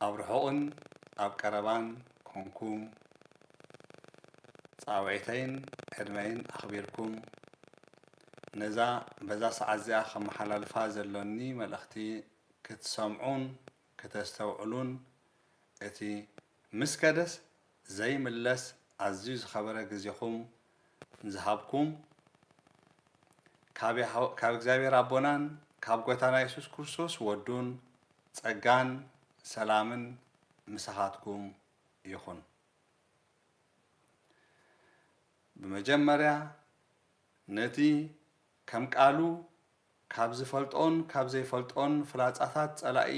ኣብ ርሑቕን ኣብ ቀረባን ኮንኩም ጻውዒተይን ዕድመይን ኣኽቢርኩም ነዛ በዛ ሰዓት እዚኣ ከመሓላልፋ ዘሎኒ መልእኽቲ ክትሰምዑን ክተስተውዕሉን እቲ ምስ ከደስ ዘይምለስ ኣዝዩ ዝኸበረ ግዜኹም ንዝሃብኩም ካብ ያህ ካብ እግዚኣብሔር ኣቦናን ካብ ጎታና የሱስ ክርስቶስ ወዱን ጸጋን ሰላምን ምሳኻትኩም ይኹን። ብመጀመርያ ነቲ ከም ቃሉ ካብ ዝፈልጦን ካብ ዘይፈልጦን ፍላጻታት ጸላኢ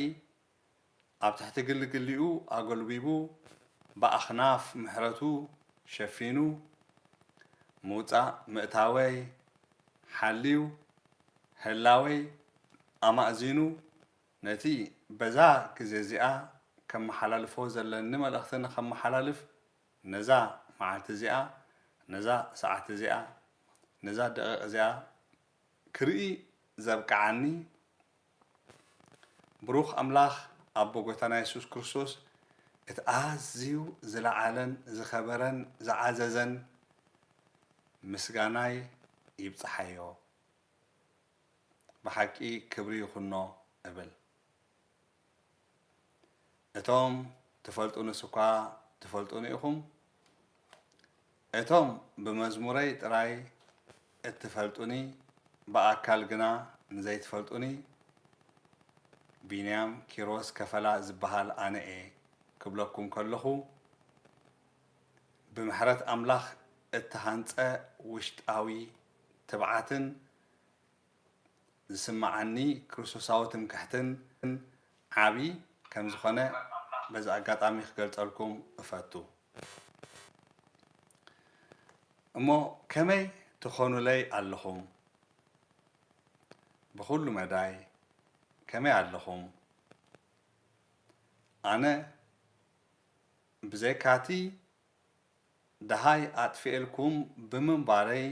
ኣብ ትሕቲ ግልግሊኡ ኣጎልቢቡ ብኣኽናፍ ምሕረቱ ሸፊኑ ምውጻእ ምእታወይ ሓልዩ ህላወይ ኣማእዚኑ ነቲ በዛ ግዜ'ዚኣ ከመሓላልፎ ዘለኒ መልእኽቲ ንኸመሓላልፍ ነዛ መዓልቲ'ዚኣ ነዛ ሰዓት'ዚኣ ነዛ ደቒቕ'ዚኣ ክርኢ ዘብቅዓኒ ብሩኽ ኣምላኽ ኣቦ ጎይታና የሱስ ክርስቶስ እቲ ኣዝዩ ዝለዓለን ዝኸበረን ዝዓዘዘን ምስጋናይ ይብጽሓዮ ብሓቂ ክብሪ ይኹኖ እብል እቶም ትፈልጡንስ እኳ ትፈልጡኒ ኢኹም፣ እቶም ብመዝሙረይ ጥራይ እትፈልጡኒ ብኣካል ግና ንዘይትፈልጡኒ ቢንያም ኪሮስ ከፈላ ዝብሃል ኣነ'የ ክብለኩም ከለኹ ብምሕረት ኣምላኽ እተሃንጸ ውሽጣዊ ትብዓትን ዝስመዓኒ ክርስቶሳዊ ትምክሕትን ዓቢ ከም ዝኾነ በዚ ኣጋጣሚ ክገልጸልኩም እፈቱ። እሞ ከመይ ትኾኑለይ ኣለኹም? ብኹሉ መዳይ ከመይ ኣለኹም? ኣነ ብዘይካቲ ደሃይ ኣጥፊኤልኩም ብምንባረይ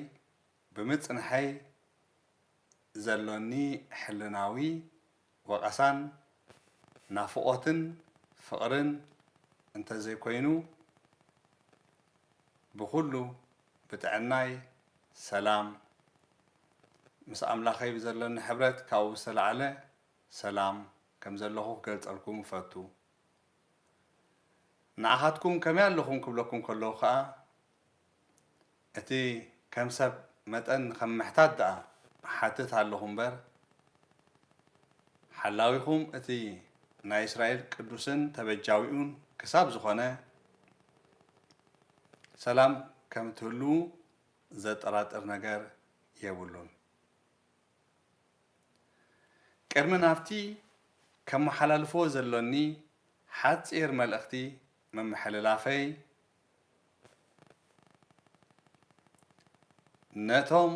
ብምጽንሐይ ዘሎኒ ሕልናዊ ወቐሳን ናፍቖትን ፍቕርን እንተ ዘይኮይኑ ብኹሉ ብጥዕናይ ሰላም ምስ ኣምላኸይ ብዘሎኒ ሕብረት ካብኡ ብዝተላዕለ ሰላም ከም ዘለኹ ክገልጸልኩም እፈቱ። ንዓኻትኩም ከመይ ኣለኹም ክብለኩም ከለኹ ከኣ እቲ ከም ሰብ መጠን ከም ምሕታት ደኣ እሓትት ኣሎኹ እምበር፣ ሓላዊኹም እቲ ናይ እስራኤል ቅዱስን ተበጃዊኡን ክሳብ ዝኾነ፣ ሰላም ከም እትህልዉ ዘጠራጥር ነገር የብሉን። ቅድሚ ናብቲ ከመሓላልፎ ዘሎኒ ሓጺር መልእኽቲ ምምሕልላፈይ፣ ነቶም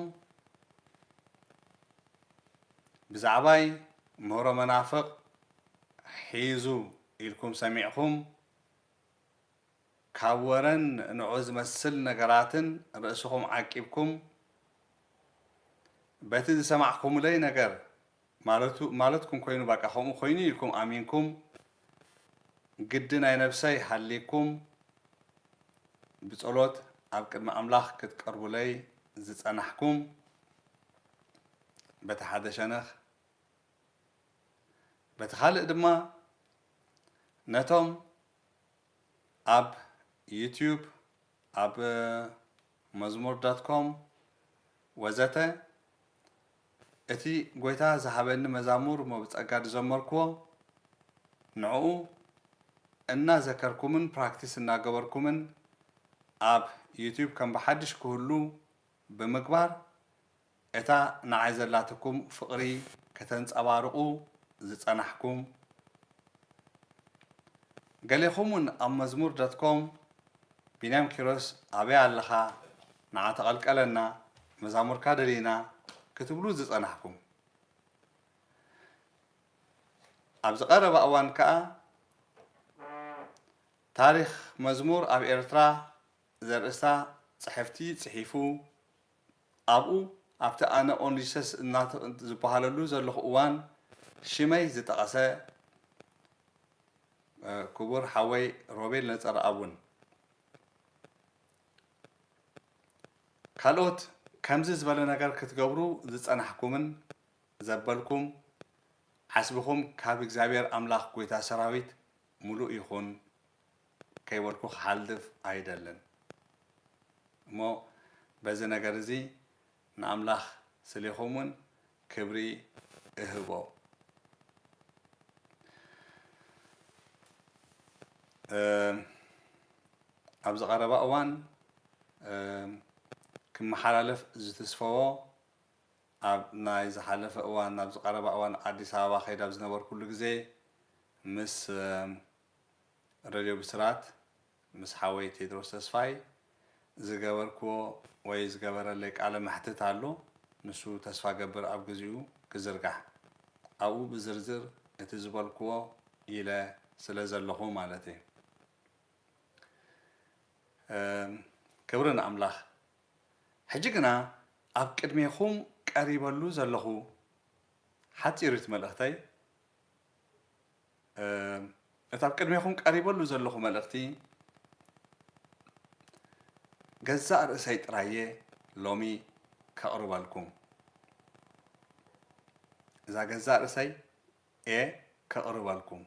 ብዛዕባይ ምህሮ መናፍቕ ሒዙ ኢልኩም ሰሚዕኩም ካብ ወረን ንዑ ዝመስል ነገራትን ርእስኹም ዓቂብኩም በቲ ዝሰማዕኩምለይ ነገር ማለቱ ማለትኩም ኮይኑ ባቃ ከምኡ ኮይኑ እዩ ኢልኩም ኣሚንኩም ግዲ ናይ ነብሰይ ሃልይኩም ብጸሎት ኣብ ቅድሚ ኣምላኽ ክትቀርቡለይ ዝጸናሕኩም በቲ ሓደ ሸነኽ በቲ ካልእ ድማ ነቶም ኣብ ዩቱብ ኣብ መዝሙር ዶት ኮም ወዘተ እቲ ጐይታ ዝሃበኒ መዛሙር እሞ ብጸጋ ዝዘመርኩዎ ንዕኡ እናዘከርኩምን ፕራክቲስ እናገበርኩምን ኣብ ዩቱብ ከም ብሓድሽ ክህሉ ብምግባር እታ ንዓይ ዘላትኩም ፍቕሪ ከተንጸባርቑ ዝጸናሕኩም ገሌኹም ውን ኣብ መዝሙር ዶት ኮም ቢንያም ኪሮስ ኣበይ ኣለኻ ንዓ ተቐልቀለና መዛሙርካ ደሊና ክትብሉ ዝጸናሕኩም፣ ኣብዚ ቀረባ እዋን ከኣ ታሪኽ መዝሙር ኣብ ኤርትራ ዘርእስታ ጽሕፍቲ ጽሒፉ ኣብኡ ኣብቲ ኣነ ኦንጂሰስ እናተብ ዝበሃለሉ ዘለኹ እዋን ሽመይ ዝጠቐሰ ክቡር ሓወይ ሮቤል ነጸረኣብ እውን ካልኦት ከምዚ ዝበለ ነገር ክትገብሩ ዝጸናሕኩምን ዘበልኩም ዓስብኹም ካብ እግዚኣብሔር ኣምላኽ ጐይታ ሰራዊት ምሉእ ይኹን ከይበልኩ ክሓልፍ ኣይደልን እሞ በዚ ነገር እዚ ንኣምላኽ ስሌኹም ውን ክብሪ እህቦ። ኣብዚ ቀረባ እዋን ክመሓላለፍ ዝትስፈዎ ኣብ ናይ ዝሓለፈ እዋን ኣብዚ ቀረባ እዋን ኣዲስ ኣበባ ከይድ ኣብ ዝነበርኩሉ ግዜ ምስ ረድዮ ብስራት ምስ ሓወይ ቴድሮስ ተስፋይ ዝገበርክዎ ወይ ዝገበረለይ ቃለ መሕትት ኣሎ ንሱ ተስፋ ገብር ኣብ ግዚኡ ክዝርጋሕ ኣብኡ ብዝርዝር እቲ ዝበልክዎ ኢለ ስለ ዘለኹ ማለት እየ ክብሪ ንኣምላኽ ሕጂ ግና ኣብ ቅድሜኹም ቀሪበሉ ዘለኹ ሓጺሪት መልእኽተይ እቲ ኣብ ቅድሜኹም ቀሪበሉ ዘለኹ መልእኽቲ ገዛእ ርእሰይ ጥራየ ሎሚ ከቕርበልኩም። እዛ ገዛእ ርእሰይ እየ ከቕርበልኩም።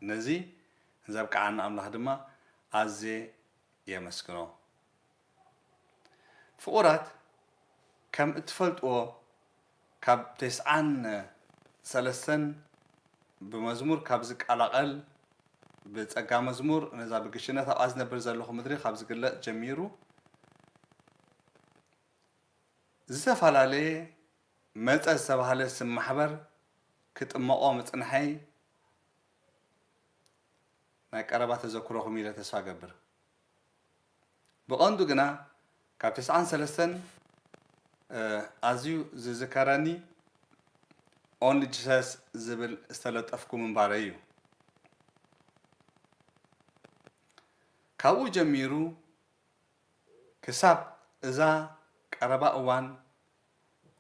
ነዚ ዘብቅዓኒ ኣምላኽ ድማ ኣዝየ የመስግኖ። ፍቑራት ከም እትፈልጥዎ ካብ ቴስዓን ሰለስተን ብመዝሙር ካብ ዝቀላቐል ብጸጋ መዝሙር ነዛ ብግሽነት ኣብኣ ዝነብር ዘለኹ ምድሪ ካብ ዝግለጽ ጀሚሩ ዝተፈላለየ መጸ ዝተባህለ ስም ማሕበር ክጥመቖ ምጽንሐይ ናይ ቀረባ ተዘክሮኹም ኢለ ተስፋ ገብር። ብቐንዱ ግና ካብ ተስዓን ሰለስተን ኣዝዩ ዝዝከረኒ Only Jesus ዝብል ዝተለጠፍኩ ምንባረይ እዩ። ካብኡ ጀሚሩ ክሳብ እዛ ቀረባ እዋን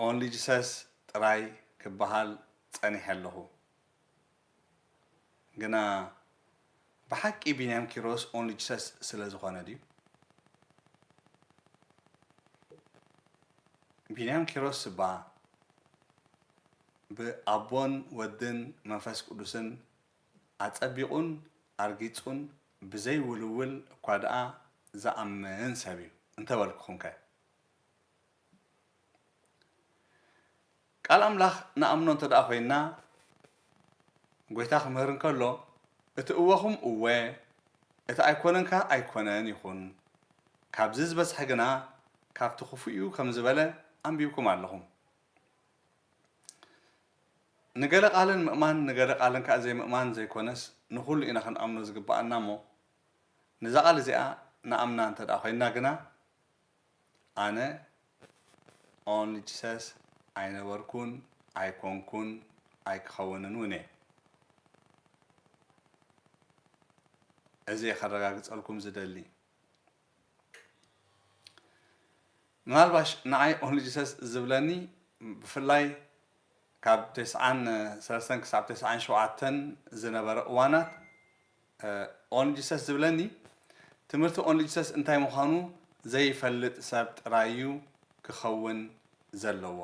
Only Jesus ጥራይ ክበሃል ጸኒሐ ኣለኹ። ግና ብሓቂ ቢንያም ኪሮስ ኦንሊ ጂሰስ ስለ ዝኾነ ድዩ? ቢንያም ኪሮስ እባ ብኣቦን ወድን መንፈስ ቅዱስን ኣጸቢቑን ኣርጊጹን ብዘይ ውልውል እኳ ደኣ ዝኣምን ሰብ እዩ እንተበልኩኹምከ? ቃል ኣምላኽ ንኣምኖ እንተ ደኣ ዄንና፣ ጐይታ ኺምህር እንከሎ፣ እቲ እወኹም እወ፣ እቲ ኣይኰነን ከኣ ኣይኰነን ይኹን፣ ካብዚ ዝበዝሐ ግና ካብቲ ኽፉእ'ዩ ከም ዝበለ ኣንቢብኩም ኣለኹም። ንገለ ቓልን ምእማን ንገለ ቓልን ከኣ ዘይምእማን ዘይኰነስ፣ ንዅሉ ኢና ኽንኣምኖ ዚግብኣና እሞ፣ ነዛ ቓል እዚኣ ንኣምና እንተ ደኣ ዄንና ግና፣ ኣነ ኦንጅሰስ ኣይነበርኩን ኣይኮንኩን ኣይክኸውንን ውን እየ። እዚ እየ ከረጋግጸልኩም ዝደሊ። ምናልባሽ ንዓይ ኦንጅሰስ ዝብለኒ ብፍላይ ካብ ተስዓን ሰለስተን ክሳብ ተስዓን ሸውዓተን ዝነበረ እዋናት ኦንሊ ጂሰስ ዝብለኒ ትምህርቲ ኦንሊ ጂሰስ እንታይ ምዃኑ ዘይፈልጥ ሰብ ጥራይ እዩ ክኸውን ዘለዎ።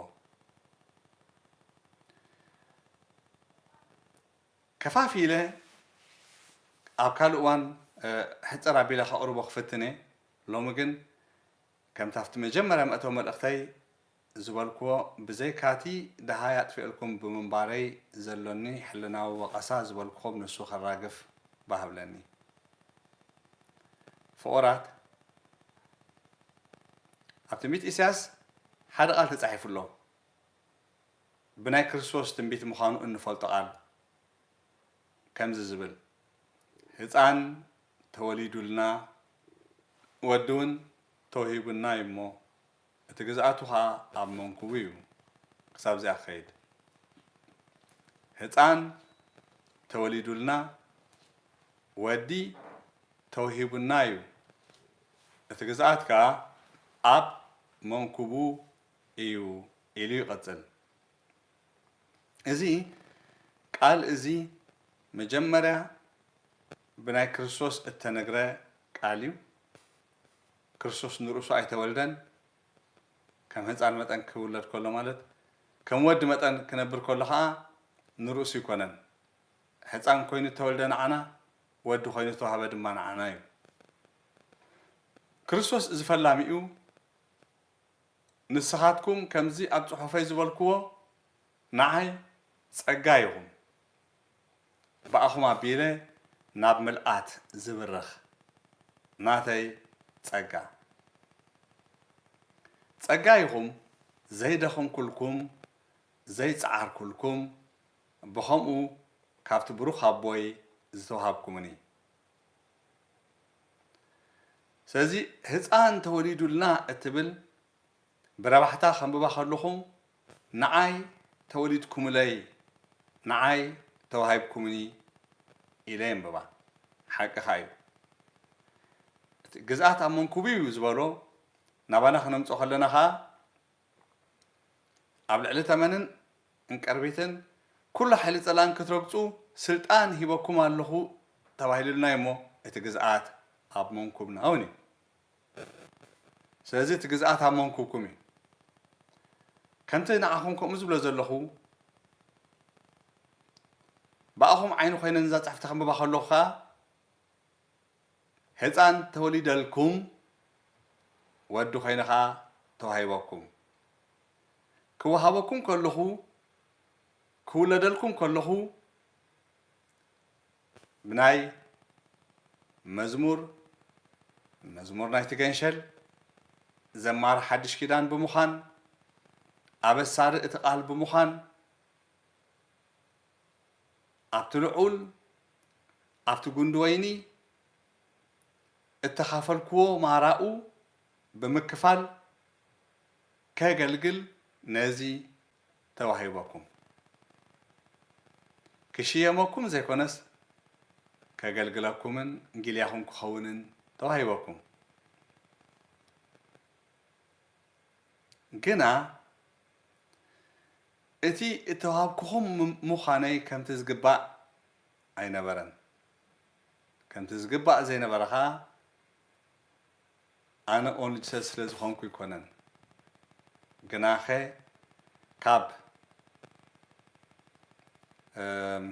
ከፋፊለ ኣብ ካልእ እዋን ሕጽር ኣቢለ ከቕርቦ ክፍትን እየ። ሎሚ ግን ከምቲ ኣብቲ መጀመርያ መእተዊ መልእኽተይ ዝበልኩዎ ብዘይካቲ ደሃይ ኣጥፊኤልኩም ብምንባረይ ዘሎኒ ሕልናዊ ወቐሳ ዝበልኩኹም ንሱ ከራግፍ ባህብለኒ። ፍቑራት ኣብ ትንቢት ኢሳያስ ሓደ ቃል ተጻሒፉ ኣሎ ብናይ ክርስቶስ ትንቢት ምዃኑ እንፈልጦ ቃል ከምዚ ዝብል ህጻን ተወሊዱልና ወዲውን ተውሂቡና እዩሞ እቲ ግዝኣቱ ከኣ ኣብ መንኵቡ እዩ ክሳብ እዚኣ ክኸይድ። ህጻን ተወሊዱልና፣ ወዲ ተውሂቡና እዩ፣ እቲ ግዝኣት ከኣ ኣብ መንኵቡ እዩ ኢሉ ይቕጽል። እዚ ቃል እዚ መጀመርያ ብናይ ክርስቶስ እተነግረ ቃል እዩ። ክርስቶስ ንርእሱ ኣይተወልደን፣ ከም ህጻን መጠን ክውለድ ከሎ ማለት ከም ወዲ መጠን ክነብር ከሎ ከኣ ንርእሱ ኣይኮነን። ህጻን ኮይኑ እተወልደ ንዓና፣ ወዲ ኮይኑ እተዋህበ ድማ ንዓና እዩ። ክርስቶስ እዚ ፈላሚኡ ንስኻትኩም ከምዚ ኣብ ጽሑፈይ ዝበልክዎ ንዓይ ጸጋ ኢኹም። ብኣኹም ኣቢለ ናብ ምልኣት ዝብርኽ ናተይ ጸጋ። ጸጋ ኢኹም ዘይደኸምኩልኩም ዘይጸዓርኩልኩም ብኸምኡ ካብቲ ብሩኽ ኣቦይ ዝተዋሃብኩምኒ። ስለዚ ህጻን ተወሊዱልና እትብል ብረባሕታ ከንብባ ከለኹም ንዓይ ተወሊድኩምለይ ንዓይ ተዋሂብኩምኒ ኢለ የንብባ ሓቅኻ እዩ እቲ ግዝኣት ኣብ መንኩቡ እዩ ዝበሎ ናባና ክነምጾ ከለና ከኣ ኣብ ልዕሊ ተመንን እንቅርቢትን ኩሉ ሓይሊ ጸላእን ክትረግጹ ስልጣን ሂበኩም ኣለኹ ተባሂሉልና እዩሞ እቲ ግዝኣት ኣብ መንኩብና እውን እዩ ስለዚ እቲ ግዝኣት ኣብ መንኵብኩም እዩ። ከምቲ ንዓኹም ከምኡ ዝብሎ ዘለኹ፣ ብኣኹም ዓይኒ ዀይነ ነዛ ጽሕፍቲ ከንብባ ከለኹ ኸኣ፣ ህጻን ተወሊደልኩም፣ ወዲ ዀይነ ኸኣ ተዋሂበኩም። ክወሃበኩም ከለኹ፣ ክውለደልኩም ከለኹ፣ ብናይ መዝሙር መዝሙር ናይቲ ገንሸል ዘማሪ ሓድሽ ኪዳን ብምዃን ኣበሳሪ እቲ ቃል ብምዃን ኣብቲ ልዑል ኣብቲ ጉንዲ ወይኒ እተኻፈልክዎ ማራኡ ብምክፋል ከገልግል ነዚ ተዋሂበኩም ክሽየመኩም ዘይኮነስ ከገልግለኩምን ጊልያኹም ክኸውንን ተዋሂበኩም ግና እቲ እተዋሃብኩኹም ምዃነይ ከምቲ ዝግባእ ኣይነበረን ከምቲ ዝግባእ ዘይነበረ ኸኣ ኣነ ኦንጅሰ ስለ ዝኮንኩ ኣይኮነን ግናከ ካብ እም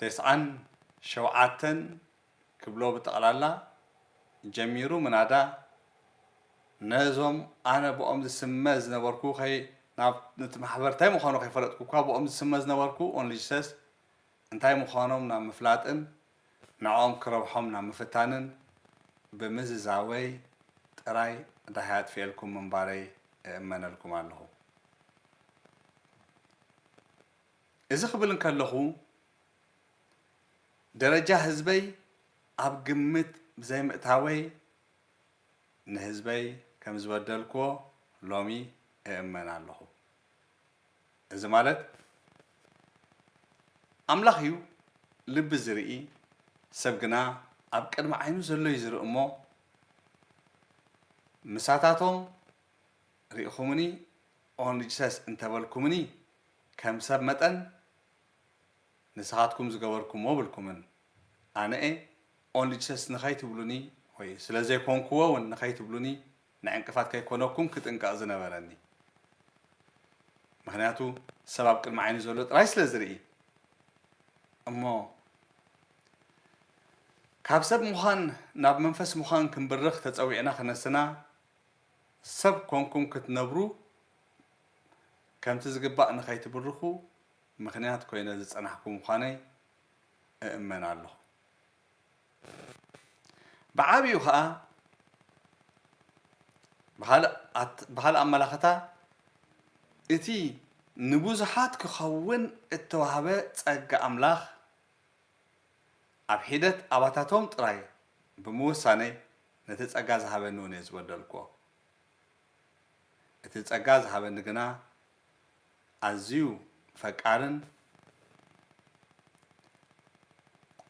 ተስዓን ሸውዓተን ክብሎ ብጠቅላላ ጀሚሩ ምናዳ ነዞም ኣነ ብኦም ዝስመ ዝነበርኩ ከይ ናብ ንቲ ማሕበር እንታይ ምኳኑ ከይፈለጥኩ እኳ ብኦም ዝስመ ዝነበርኩ ኦንልጅሰስ እንታይ ምኳኖም ናብ ምፍላጥን ንዕኦም ክረብሖም ናብ ምፍታንን ብምዝዛወይ ጥራይ ዳሃይ ኣጥፊኤልኩም ምንባረይ እእመነልኩም ኣለኹ። እዚ ክብል እንከለኹ ደረጃ ህዝበይ ኣብ ግምት ብዘይምእታወይ ንህዝበይ ከምዝበደልኩዎ ሎሚ እእመን ኣለኹ። እዚ ማለት ኣምላኽ እዩ ልቢ ዝርኢ ሰብ ግና ኣብ ቅድሚ ዓይኑ ዘሎ እዩ ዝርኢ እሞ ምሳታቶም ርኢኹምኒ ኦንሊ ጅሰስ እንተበልኩምኒ ከም ሰብ መጠን ንስኻትኩም ዝገበርኩምዎ ብልኩምን ኣነ'የ ኦንሊ ጅሰስ ንኸይትብሉኒ ወይ ስለ ዘይኮንኩዎ ውን ንኸይትብሉኒ ንዕንቅፋት ከይኮነኩም ክጥንቀቕ ዝነበረኒ ምኽንያቱ ሰብ ኣብ ቅድሚ ዓይኑ ዘሎ ጥራይ ስለ ዝርኢ እሞ ካብ ሰብ ምዃን ናብ መንፈስ ምዃን ክንብርኽ ተጸዊዕና ክነስና ሰብ ኮንኩም ክትነብሩ ከምቲ ዝግባእ ንኸይትብርኹ ምኽንያት ኮይነ ዝጸናሕኩ ምዃነይ እእመን ኣለኹ። ብዓቢኡ ከኣ ብኻልእ ኣመላኽታ እቲ ንብዙሓት ክኸውን እተዋህበ ጸጋ ኣምላኽ ኣብ ሒደት ኣባታቶም ጥራይ ብምውሳነይ ነቲ ጸጋ ዝሃበኒ እውን እየ ዝበደልኩዎ። እቲ ጸጋ ዝሃበኒ ግና ኣዝዩ ፈቃርን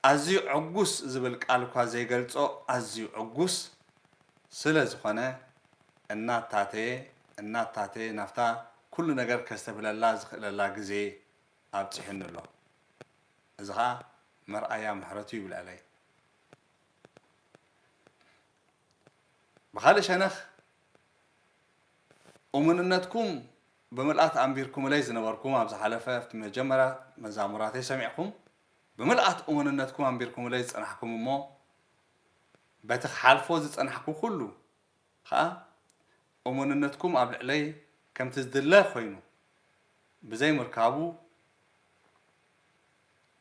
ኣዝዩ ዕጉስ ዝብል ቃል እኳ ዘይገልፆ ኣዝዩ ዕጉስ ስለ ዝኾነ እናታተየ እናታተየ ናብታ ኩሉ ነገር ከስተብህለላ ዝኽእለላ ግዜ ኣብፂሑኒ ኣሎ። እዚ ኸዓ መርኣያ ምሕረቱ እዩ ብልዕለይ። ብኻልእ ሸነኽ እሙንነትኩም ብምልኣት ኣንቢርኩምለይ ዝነበርኩም ኣብ ዝሓለፈ ኣብቲ መጀመርያ መዛሙራተይ ሰሚዕኩም ብምልኣት እሙንነትኩም ኣንቢርኩምለይ ዝጸናሕኩም እሞ በቲ ክሓልፎ ዝጸናሕኩ ኩሉ ኸኣ እሙንነትኩም ኣብ ልዕለይ ከምቲ ዝድለ ኮይኑ ብዘይ ምርካቡ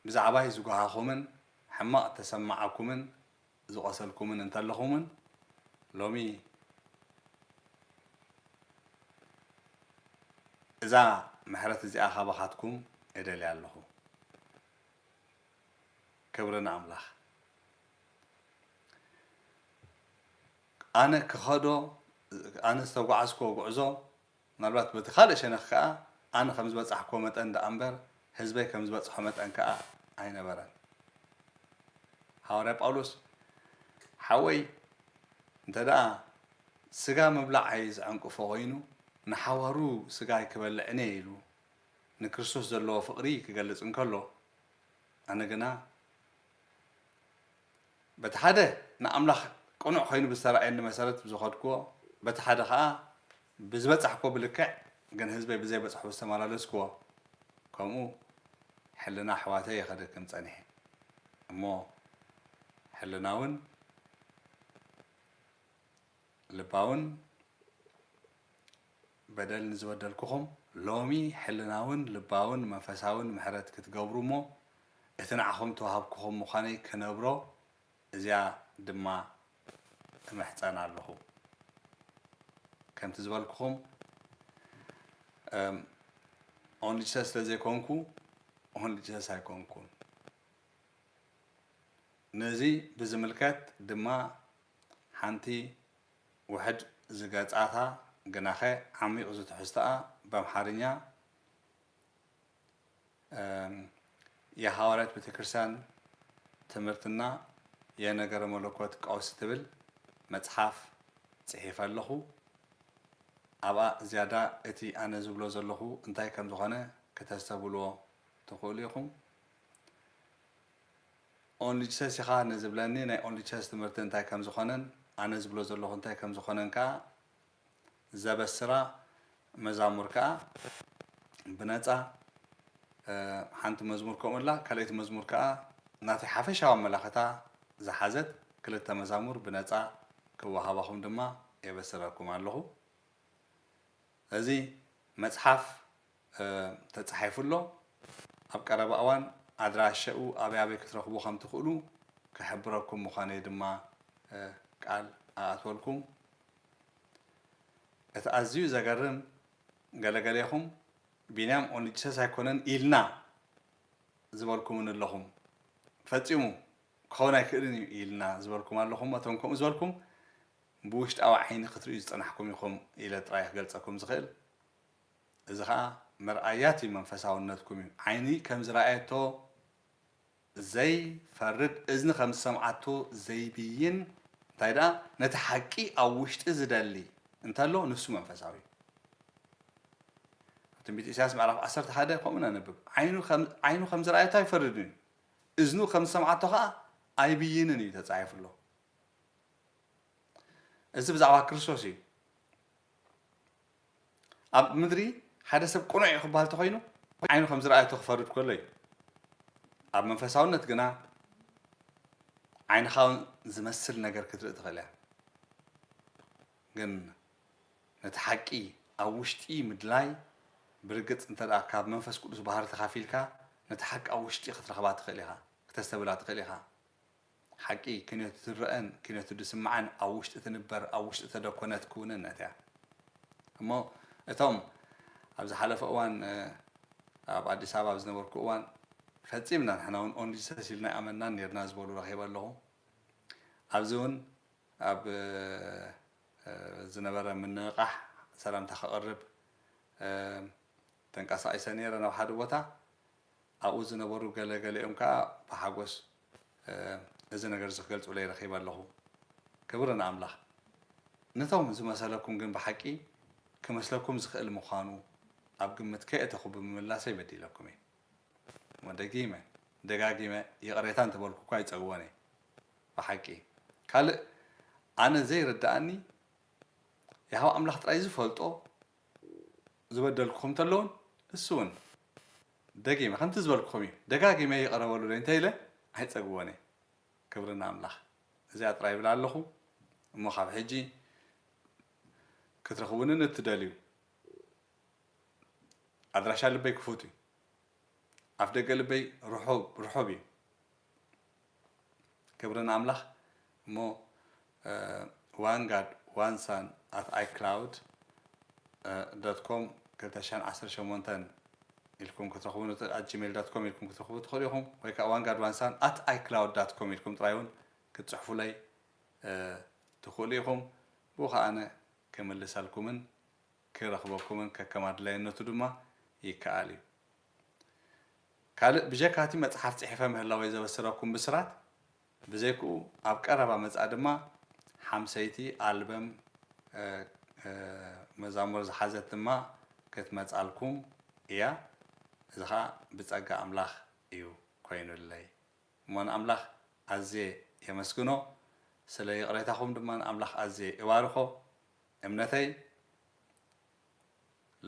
ብዛዕባይ ዝጎሃኹምን ሕማቕ እተሰማዓኩምን ዝቖሰልኩምን እንተለኹምን ሎሚ እዛ ምሕረት እዚኣ ካባኻትኩም እደልያ ኣለኹ። ክብሪ ንኣምላኽ። ኣነ ክኸዶ ኣነ ዝተጓዓዝክዎ ጉዕዞ ምናልባት በቲ ካልእ ሸነኽ ከኣ ኣነ ከም ዝበጻሕኩዎ መጠን ደኣ እምበር ህዝበይ ከም ዝበጽሖ መጠን ከኣ ኣይነበረን። ሃዋርያ ጳውሎስ ሓወይ እንተ ደኣ ስጋ ምብላዓይ ዝዐንቅፎ ዀይኑ ንሓዋሩ ስጋይ ክበልዕን እየ ኢሉ ንክርስቶስ ዘለዎ ፍቕሪ ክገልጽ እንከሎ ኣነ ግና በቲ ሓደ ንኣምላኽ ቅኑዕ ዀይኑ ብዝተራእየኒ መሰረት ብዝኸድኩዎ በቲ ሓደ ኸኣ ብዝበጻሕክዎ ብልክዕ ግን ህዝበይ ብዘይ በጽሕኡ ዝተመላለስክዎ ከምኡ ሕልና ኣሕዋተይ እየ ከደክም ጸኒሐ እሞ ሕልናውን ልባውን በደል ንዝበደልኩኹም ሎሚ ሕልናውን ልባውን መንፈሳውን ምሕረት ክትገብሩ እሞ እቲ ንዓኹም ተዋህብክኹም ምዃነይ ክነብሮ እዚኣ ድማ እምሕጸን ኣለኹ። ከምቲ ዝበልኩኹም እም ኦንሊ ጂሰስ ስለ ዘይኮንኩ ኦንሊ ጂሰስ ኣይኮንኩን። ነዚ ብዝምልከት ድማ ሓንቲ ውሕድ ዝገጻታ ግናኸ ዓሚቝ ዝትሕዝቶኣ ብኣምሓርኛ፣ የሃዋርያት ቤተክርስቲያን ትምህርትና የነገረ መለኮት ቀውስ ትብል መጽሓፍ ጽሒፈ ኣለኹ። ኣብኣ ዝያዳ እቲ ኣነ ዝብሎ ዘለኹ እንታይ ከም ዝኾነ ክተስተብህልዎ ትኽእሉ ኢኹም። ኦንሊ ጂሰስ ኢኻ ንዝብለኒ ናይ ኦንሊ ጂሰስ ትምህርቲ እንታይ ከም ዝኾነን ኣነ ዝብሎ ዘለኹ እንታይ ከም ዝኾነን ከኣ ዘበስራ መዛሙር ከኣ ብነጻ ሓንቲ መዝሙር ከምኡ እላ ካልኣይቲ መዝሙር ከኣ ናተይ ሓፈሻዊ ኣመላኽታ ዝሓዘት ክልተ መዛሙር ብነጻ ክወሃባኹም ድማ የበስረኩም ኣለኹ። እዚ መጽሓፍ ተጻሒፉ ኣሎ። ኣብ ቀረባ እዋን ኣድራሸኡ ኣበይ ኣበይ ክትረኽቡ ከም ትኽእሉ ክሕብረኩም ምዃነይ ድማ ቃል እኣትወልኩም። እቲ ኣዝዩ ዘገርም ገለ ገሌኹም ቢንያም ኦንጂሰስ ኣይኮነን ኢልና ዝበልኩምኒ ኣለኹም። ፈጺሙ ክኸውን ኣይክእልን እዩ ኢልና ዝበልኩም ኣለኹም። እቶም ከምኡ ዝበልኩም ብውሽጣዊ ዓይኒ ክትርእዩ ዝጸናሕኩም ኢኹም ኢለ ጥራይ እየ ክገልጸኩም ዝኽእል። እዚ ኸኣ መርኣያቲ መንፈሳውነትኩም እዩ። ዓይኒ ከም ዝረኣየቶ ዘይፈርድ፣ እዝኒ ከም ዝሰምዓቶ ዘይብይን፣ እንታይ ደኣ ነቲ ሓቂ ኣብ ውሽጢ ዝደሊ እንተሎ ንሱ መንፈሳዊ እዩ። ኣብ ትንቢት ኢሳያስ ምዕራፍ ዓሰርተ ሓደ ከምኡ ነንብብ፣ ዓይኑ ዓይኑ ከም ዝረኣየቶ ኣይፈርድን እዩ፣ እዝኑ ከም ዝሰምዓቶ ኸኣ ኣይብይንን እዩ ተጻሒፉ ኣሎ። እዚ ብዛዕባ ክርስቶስ እዩ። ኣብ ምድሪ ሓደ ሰብ ቅኑዕ እዩ ክበሃል ተኾይኑ ዓይኑ ከም ዝረኣየቶ ክፈርድ ከሎ እዩ። ኣብ መንፈሳውነት ግና ዓይንኻ እውን ዝመስል ነገር ክትርኢ ትኽእል እያ። ግን ነቲ ሓቂ ኣብ ውሽጢ ምድላይ ብርግጽ እንተ ካብ መንፈስ ቅዱስ ባህሪ ተኻፊልካ ነታ ሓቂ ኣብ ውሽጢ ክትረኽባ ትኽእል ኢኻ፣ ክተስተብህላ ትኽእል ኢኻ። ሓቂ ኪነቱ ትረእን ኪነቱ ድስማዕን ኣብ ውሽጢ ትንበር ኣብ ውሽጢ ተደኮነት ክውንነት እያ እሞ እቶም ኣብ ዝሓለፈ እዋን ኣብ ኣዲስ ኣበባ ኣብ ዝነበርኩ እዋን ፈጺምና ንሕና እውን ኦንሊሰስ ኢልና ኣይኣመንናን ኔርና ዝበሉ ረኺበ ኣለኹ ኣብዚ እውን ኣብ ዝነበረ ምንቕቓሕ ሰላምታ ከቕርብ ተንቀሳቒሰ ኔረ ናብ ሓደ ቦታ ኣብኡ ዝነበሩ ገለ ገሊኦም ከኣ ብሓጐስ እዚ ነገር እዚ ክገልጹለይ ረኺበ ኣለኹ። ክብሪ ንኣምላኽ! ነቶም ዝመሰለኩም ግን ብሓቂ ክመስለኩም ዝኽእል ምዃኑ ኣብ ግምት ከየእተኹ ብምምላሰይ በዲለኩም እየ። እሞ ደጊመ ደጋጊመ ይቕሬታ እንተ በልኩኳ ይጸግቦን እየ። ብሓቂ ካልእ ኣነ ዘይርድኣኒ የሆዋ ኣምላኽ ጥራይ ዝፈልጦ ዝበደልኩኹም እንተለዉን ንሱውን ደጊመ ከምቲ ዝበልኩኹም እዩ ደጋጊመ ይቕረ በሉለይ እንተኢለ ኣይጸግቦን እየ ክብሪ ንኣምላኽ እዚኣ ጥራይ ይብል ኣለኹ እሞ ካብ ሕጂ ክትረኽቡኒ ንእትደልዩ ኣድራሻ ልበይ ክፉት እዩ ኣፍደገ ልበይ ርሑብ ርሑብ እዩ ክብሪ ንኣምላኽ እሞ ዋን ጋድ ዋን ሳን ኣት ኣይ ክላውድ ዶት ኮም ክልተ ሽሕን ዓሰርተ ሸሞንተን ኢልኩም ክትረኽቡን ኣት ጂሜል ዶት ኮም ኢልኩም ክትረኽቡ ትኽእሉ ኢኹም ወይ ከዓ ዋን ጋድ ዋን ሳን ኣት ኣይ ክላውድ ዳት ኮም ኢልኩም ጥራይ እውን ክትፅሕፉለይ ትኽእሉ ኢኹም ብኡ ከዓነ ክምልሰልኩምን ክረኽበኩምን ከከም ኣድላይነቱ ድማ ይከኣል እዩ። ካልእ ብጀካ እቲ መጽሓፍ ጽሒፈ ምህላወይ ዘበስረኩም ብስራት፣ ብዘይክኡ ኣብ ቀረባ መጻኢ ድማ ሓምሰይቲ ኣልበም መዛሙር ዝሓዘት ድማ ክትመጻልኩም እያ። እዚ ከኣ ብጸጋ ኣምላኽ እዩ ኮይኑለይ። እሞ ንኣምላኽ ኣዝየ የመስግኖ፣ ስለ ይቕሬታኹም ድማ ንኣምላኽ ኣዝየ እባርኾ። እምነተይ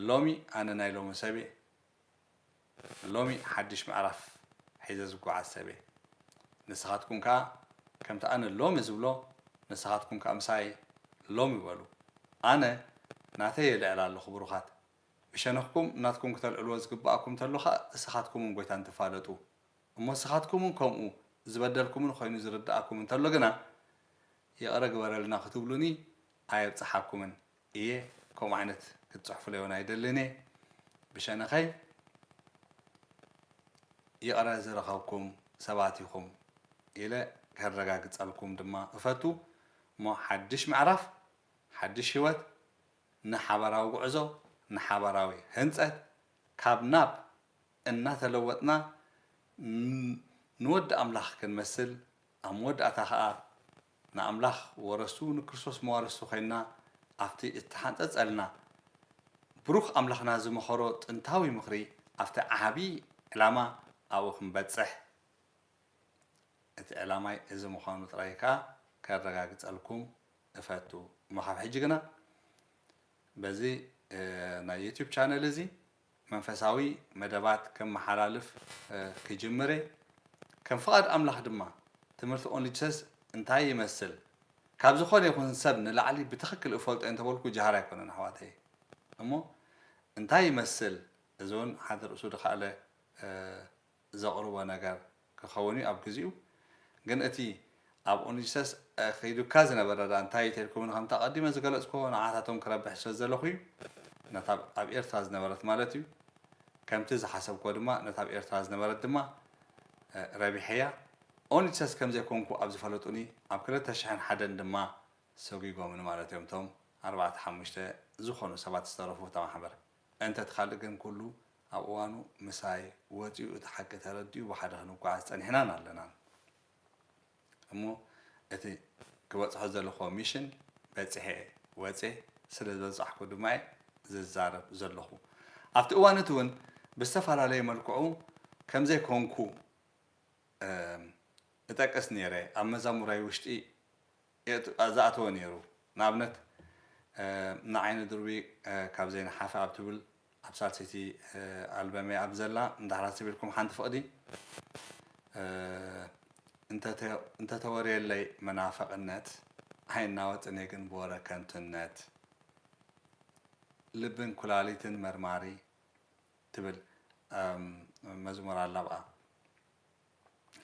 ሎሚ ኣነ ናይ ሎሚ ሰብየ ሎሚ ሓድሽ ምዕራፍ ሒዘ ዝጓዓዝ ሰብየ ንስኻትኩም ከኣ ከምቲ ኣነ ሎሚ ዝብሎ ንስኻትኩም ከኣ ምሳይ ሎሚ በሉ ኣነ ናተይ የልዕል ኣለኹ ብሩኻት ብሸነኽኩም ናትኩም ክተልዕልዎ ዝግብኣኩም ተሎ ከኣ እስኻትኩምን ጎይታን ትፋለጡ እሞ እስኻትኩምን ከምኡ ዝበደልኩምን ኾይኑ ዝርድኣኩም እንተሎ ግና ይቅረ ግበረልና ክትብሉኒ ኣየብጽሓኩምን እየ ከምኡ ዓይነት ክትጽሕፉለይ ውን ኣይደልን እየ ብሸነከይ ይቅረ ዝረከብኩም ሰባት ኢኩም ኢለ ከረጋግጸልኩም ድማ እፈቱ እሞ ሓድሽ ምዕራፍ ሓድሽ ሂወት ንሓባራዊ ጉዕዞ ንሓባራዊ ህንጸት ካብ ናብ እናተለወጥና ንወዲ ኣምላክ ክንመስል ኣብ መወዳእታ ከኣ ንኣምላኽ ወረስቱ ንክርስቶስ መዋርስቱ ኮይንና ኣብቲ እተሓንጸጸልና ብሩኽ ኣምላኽና ዝመኸሮ ጥንታዊ ምኽሪ ኣብቲ ዓቢ ዕላማ ኣብኡ ክንበጽሕ እቲ ዕላማይ እዚ ምዃኑ ጥራይ ከኣ ከረጋግጸልኩም እፈቱ እሞ ካብ ሕጂ ግና በዚ ናይ ዩቱብ ቻነል እዚ መንፈሳዊ መደባት ከመሓላልፍ ክጅምር እየ፣ ከም ፍቓድ ኣምላኽ ድማ ትምህርቲ ኦንሊ ጂሰስ እንታይ ይመስል ካብ ዝኾነ ይኹን ሰብ ንላዕሊ ብትኽክል እፈልጦ እየ እንተበልኩ ጃህራ ኣይኮነን ኣሕዋተየ እሞ እንታይ ይመስል እዚ ውን ሓንት ርእሱ ድኻእለ ዘቕርቦ ነገር ክኸውን'ዩ ኣብ ግዚኡ ግን እቲ ኣብ ኦንጂሰስ ኣኺዱካ ዝነበረ ደኣ እንታይ ተልኩምኒ ከምቲ ኣቐዲመ ዝገለጽኩዎ ንዓታቶም ክረብሕ ስለ ዝደለኹ'ዩ ነታ ኣብ ኤርትራ ዝነበረት ማለት'ዩ ከምቲ ዝሓሰብኩዎ ድማ ነታ ኣብ ኤርትራ ዝነበረት ድማ ረቢሐያ ኦንጂሰስ ከም ዘይኮንኩ ኣብ ዝፈለጡኒ ኣብ ክልተ ሽሕን ሓደን ድማ ሰጒጎምኒ ማለት'ዮም እቶም ኣርባዕተ ሓሙሽተ ዝኾኑ ሰባት ዝተረፉ እታ ማሕበር እንተ እቲ ካልእ ግን ኩሉ ኣብ እዋኑ ምሳይ ወጺኡ እቲ ሓቂ ተረዲኡ ብሓደ ክንጓዓዝ ጸኒሕናን ኣለናን እሞ እቲ ክበጽሖ ዘለኹዎ ሚሽን በጺሐ ወጼ ስለ ዝበጻሕኩ ድማ እየ ዝዛረብ ዘለኹ ኣብቲ እዋን እቲ ውን ብዝተፈላለየ መልክዑ ከም ዘይኮንኩ እጠቅስ ኔረ ኣብ መዛሙራይ ውሽጢ ዝኣተወ ነይሩ። ንኣብነት ንዓይኒ ድርቢ ካብ ዘይንሓፍ ኣብ ትብል ኣብ ሳልሰይቲ ኣልበመይ ኣብ ዘላ ንዳሕራ ኣስቢልኩም ሓንቲ ፍቕዲ እንተተወርየለይ መናፍቕነት ኣይናወጥን እየ ግን ብወረ ከንቱነት ልብን ኩላሊትን መርማሪ ትብል መዝሙር ኣላ ኣብኣ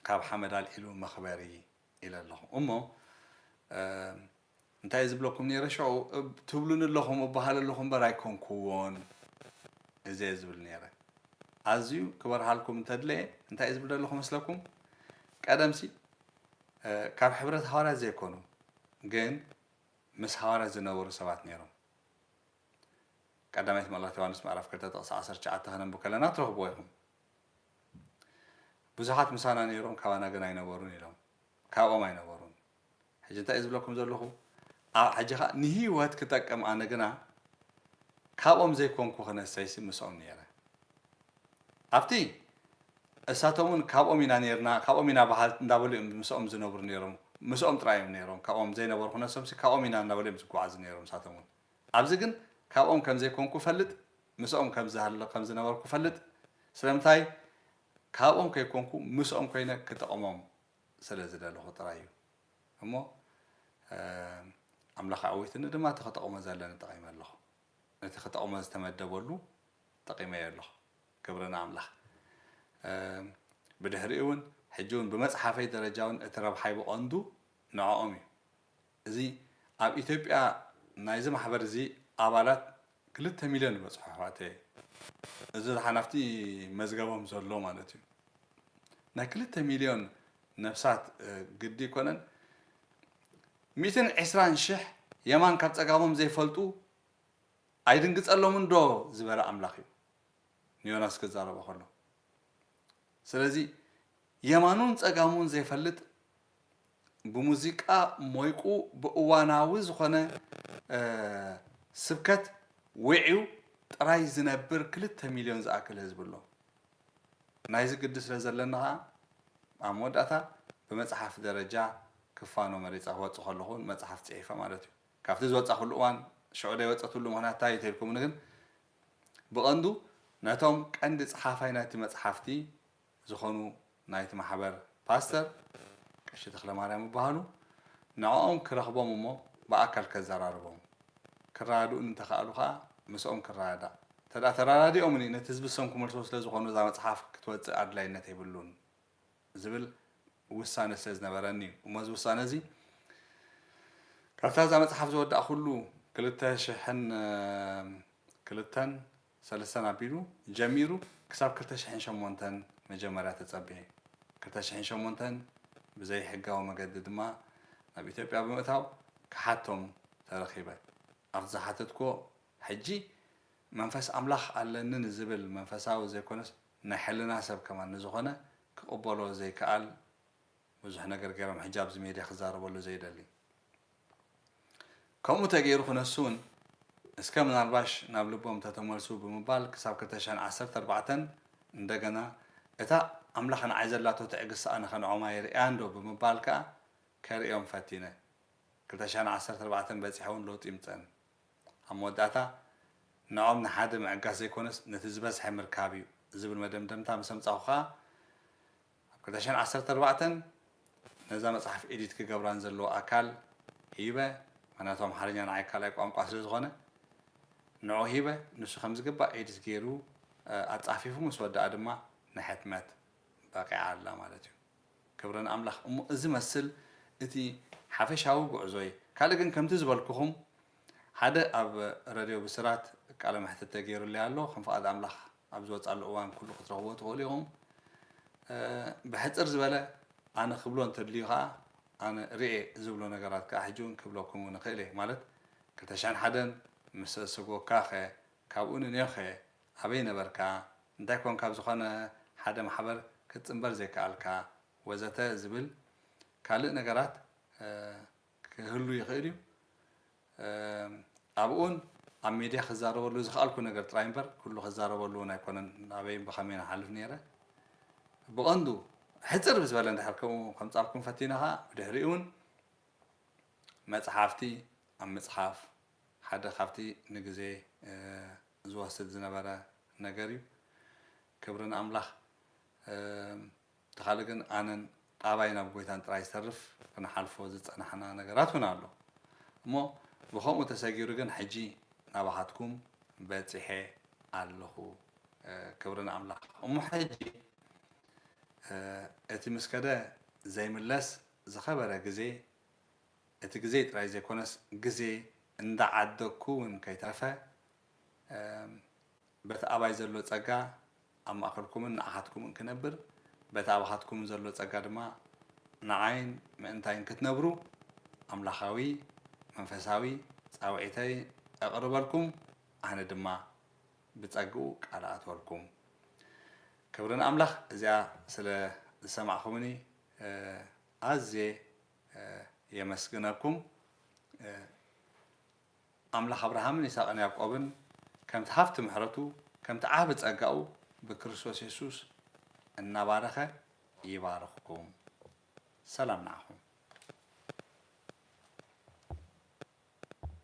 ካብ ሓመድ ኣልዒሉ መኽበሪ ኢለ ኣለኹ እሞ እንታይ እየ ዝብለኩም ነይረ ሸዑ ትብሉኒ ኣለኹም እበሃል ኣለኹ እምበር ኣይኮንኩዎን እዚ እየ ዝብል ነይረ ኣዝዩ ክበርሃልኩም እንተድለየ እንታይ እየ ዝብል ዘለኹ መስለኩም ቀደምሲ ካብ ሕብረት ሃዋርያት ዘይኮኑ ግን ምስ ሃዋርያት ዝነበሩ ሰባት ነይሮም ቀዳማይት መልእኽቲ ዮሃንስ ምዕራፍ ክልተ ጥቕሲ ዓሰርተ ትሽዓተ ከነንብብ ከለና ትረኽብዎ ኢኹም ብዙሓት ምሳና ነይሮም ካባና ግን ኣይነበሩን ኢሎም ካብኦም ኣይነበሩን ሕጂ እንታይ እዩ ዝብለኩም ዘለኹ ኣብ ሕጂ ከ ንህይወት ክጠቅም ኣነ ግና ካብኦም ዘይኮንኩ ክነሰይሲ ምስኦም ነይረ ኣብቲ እሳቶም እውን ካብኦም ኢና ነርና ካብኦም ኢና ባህል እንዳበሉ እዮም ምስኦም ዝነብሩ ነይሮም ምስኦም ጥራይ እዮም ነይሮም ካብኦም ዘይነበሩ ክነሶምሲ ካብኦም ኢና እናበሉ እዮም ዝጓዓዙ ነይሮም እሳቶም እውን ኣብዚ ግን ካብኦም ከም ዘይኮንኩ እፈልጥ፣ ምስኦም ከም ዝሃልኽ ከም ዝነበርኩ እፈልጥ፣ ስለምንታይ ካብኦም ከይኮንኩ ምስኦም ኮይነ ክጥቕሞም ስለ ዝደለኹ ጥራይ እዩ እሞ ኣምላኽ ኣዕዊትኒ ድማ እቲ ክጠቕሞ ዘለኒ ጠቒመ ኣለኹ፣ ነቲ ክጠቕሞ ዝተመደበሉ ጠቒመዮ ኣለኹ፣ ክብሪ ንኣምላኽ። ብድሕሪኡ እውን ሕጂ እውን ብመጽሓፈይ ደረጃ እውን እቲ ረብሓይ ብቐንዱ ንዕኦም እዩ። እዚ ኣብ ኢትዮጵያ ናይዚ ማሕበር እዚ ኣባላት ክልተ ሚልዮን ይበጽሑ ኣሕዋተየ። እዚ ሓላፍቲ መዝገቦም ዘሎ ማለት እዩ። ናይ ክልተ ሚልዮን ነፍሳት ግዲ ኣይኮነን። ሚእትን ዕስራን ሽሕ የማን ካብ ጸጋሞም ዘይፈልጡ ኣይድንግጸሎምንዶ ዝበለ ኣምላኽ እዩ ንዮናስ ክዛረቦ ከሎ። ስለዚ የማኑን ጸጋሙን ዘይፈልጥ ብሙዚቃ ሞይቁ ብእዋናዊ ዝኾነ ስብከት ዊዒው ጥራይ ዝነብር ክልተ ሚልዮን ዝኣክል ህዝቢ ኣሎ። ናይዚ ግዲ ስለ ዘለኒ ከኣ ኣብ መወዳእታ ብመጽሓፍ ደረጃ ክፋኖ መሪጸ ክወጽእ ከለኹ ውን መጽሓፍ ጽሒፈ ማለት እዩ። ካብቲ ዝወጻኹሉ እዋን ሽዑ ዘይወጸትሉ ምኽንያት እንታይ እዩ ተልኩምኒ ግን ብቐንዱ ነቶም ቀንዲ ጸሓፋይ ናይቲ መጽሓፍቲ ዝኾኑ ናይቲ ማሕበር ፓስተር ቀሺ ተኽለማርያም ይበሃሉ። ንዕኦም ክረኽቦም እሞ ብኣካል ከዘራርቦም። ክረዳድኡኒ እንተኸኣሉ ከኣ ምስኦም ክረዳዳእ። እንተድኣ ተረዳዲኦምኒ ነቲ ዝብሰም ክመልሶ ስለ ዝኾኑ እዛ መጽሓፍ ክትወጽእ ኣድላይነት የብሉን ዝብል ውሳነ ስለ ዝነበረኒ'ዩ። እሞ እዚ ውሳነ እዚ ካብታ እዛ መጽሓፍ ዝወዳእኩሉ ክልተ ሽሕን ክልተን ሰለስተን ኣቢሉ ጀሚሩ ክሳብ ክልተ ሽሕን ሸሞንተን መጀመርያ ተጸብየ። ክልተ ሽሕን ሸሞንተን ብዘይ ሕጋዊ መገዲ ድማ ናብ ኢትዮጵያ ብምእታው ክሓቶም ተረኺበ። ኣብቲ ዝሓተትኩዎ ሕጂ መንፈስ ኣምላኽ ኣለኒ ንዝብል መንፈሳዊ ዘይኮነስ ናይ ሕልና ሰብ ከማን ንዝኾነ ክቕበሎ ዘይክኣል ብዙሕ ነገር ገሮም ሕጂ ኣብዚ ሜድያ ክዛረበሉ ዘይደሊ ከምኡ ተገይሩ ክነሱ ውን እስከ ምናልባሽ ናብ ልቦም ተተመልሱ ብምባል ክሳብ ክልተ ሽሕን ዓሰርተ ኣርባዕተን እንደገና እታ ኣምላኽ ንዓይ ዘላቶ ትዕግስቲ ኣነ ከ ንዖም ኣይርእያን ዶ ብምባል ከኣ ከርእዮም ፈቲነ ክልተ ሽሕን ዓሰርተ ኣርባዕተን በጺሐ ውን ለውጢ ይምጸኒ ኣብ መወዳእታ ንዖም ንሓደ ምዕጋስ ዘይኮነስ ነቲ ዝበዝሐ ምርካብ እዩ ዝብል መደምደምታ ምስ ኣምጻኹ ከኣ ኣብ ክልተ ሽሕን ዓሰርተ ኣርባዕተን ነዛ መጽሓፍ ኤዲት ክገብራ ንዘለዎ ኣካል ሂበ፣ ምኽንያቱ ኣምሓርኛ ንዓይ ካልኣይ ቋንቋ ስለ ዝኾነ ንዕኡ ሂበ፣ ንሱ ከም ዝግባእ ኤዲት ገይሩ ኣጻፊፉ ምስ ወደኣ ድማ ንሕትመት በቒዓ ኣላ ማለት እዩ። ክብሪ ንኣምላኽ። እሞ እዚ መስል እቲ ሓፈሻዊ ጉዕዞይ። ካልእ ግን ከምቲ ዝበልኩኹም ሓደ ኣብ ረድዮ ብስራት ቃለ መሕትት ተገይሩለይ ኣሎ ከም ፍቓድ ኣምላኽ ኣብ ዝወጻሉ እዋን ኩሉ ክትረኽብዎ ትኽእሉ ኢኹም ብሕጽር ዝበለ ኣነ ክብሎ እንተድልዩ ከኣ ኣነ ርኤ ዝብሎ ነገራት ከኣ ሕጂ ውን ክብለኩም ውን እኽእል እየ ማለት ክልተ ሽሕን ሓደን ምስ ሰጎግካኸ ካብኡ ንኔውኸ ኣበይ ነበርካ እንታይ ኮንካ ኣብ ዝኾነ ሓደ ማሕበር ክትጽንበር ዘይከኣልካ ወዘተ ዝብል ካልእ ነገራት ክህሉ ይኽእል እዩ። ኣብኡን ኣብ ሜድያ ክዛረበሉ ዝኸኣልኩ ነገር ጥራይ እምበር ኩሉ ክዛረበሉ እውን ኣይኮነን ኣበይን ብኸመይን እሓልፍ ነይረ። ብቐንዱ ሕጽር ብዝበለ እንድሕር ከምኡ ከምጻልኩም ፈቲና ኸኣ ብድሕሪኡ እውን መጽሓፍቲ ኣብ ምጽሓፍ ሓደ ካብቲ ንግዜ ዝወስድ ዝነበረ ነገር እዩ። ክብሪ ንኣምላኽ። እቲ ካልእ ግን ኣነን ኣባይን ኣብ ጎይታን ጥራይ ዝተርፍ ክንሓልፎ ዝጸናሕና ነገራት እውን ኣሎ እሞ ብኸምኡ ተሰጊሩ ግን ሕጂ ናባኻትኩም በጺሐ ኣለኹ ክብሪ ንኣምላኽ እሞ ሕጂ እቲ ምስ ከደ ዘይምለስ ዝኸበረ ግዜ እቲ ግዜይ ጥራይ ዘይኮነስ ግዜ እንዳዓደግኩ እውን ከይተረፈ በቲ ኣባይ ዘሎ ጸጋ ኣብ ማእከልኩምን ንዓኻትኩምን ክነብር፣ በቲ ኣባኻትኩምን ዘሎ ጸጋ ድማ ንዓይን ምእንታይን ክትነብሩ ኣምላኻዊ መንፈሳዊ ጻውዒተይ እቕርበልኩም፣ ኣነ ድማ ብጸግኡ ቃል እኣትወልኩም። ክብሪ ንኣምላኽ እዚኣ ስለ ዝሰማዕኩምኒ ኣዝየ የመስግነኩም። ኣምላኽ ኣብርሃምን ይስሃቅን ያዕቆብን ከምቲ ሃፍቲ ምሕረቱ ከምቲ ዓቢ ጸጋኡ ብክርስቶስ የሱስ እናባረኸ ይባርኽኩም። ሰላም ንዓኹም።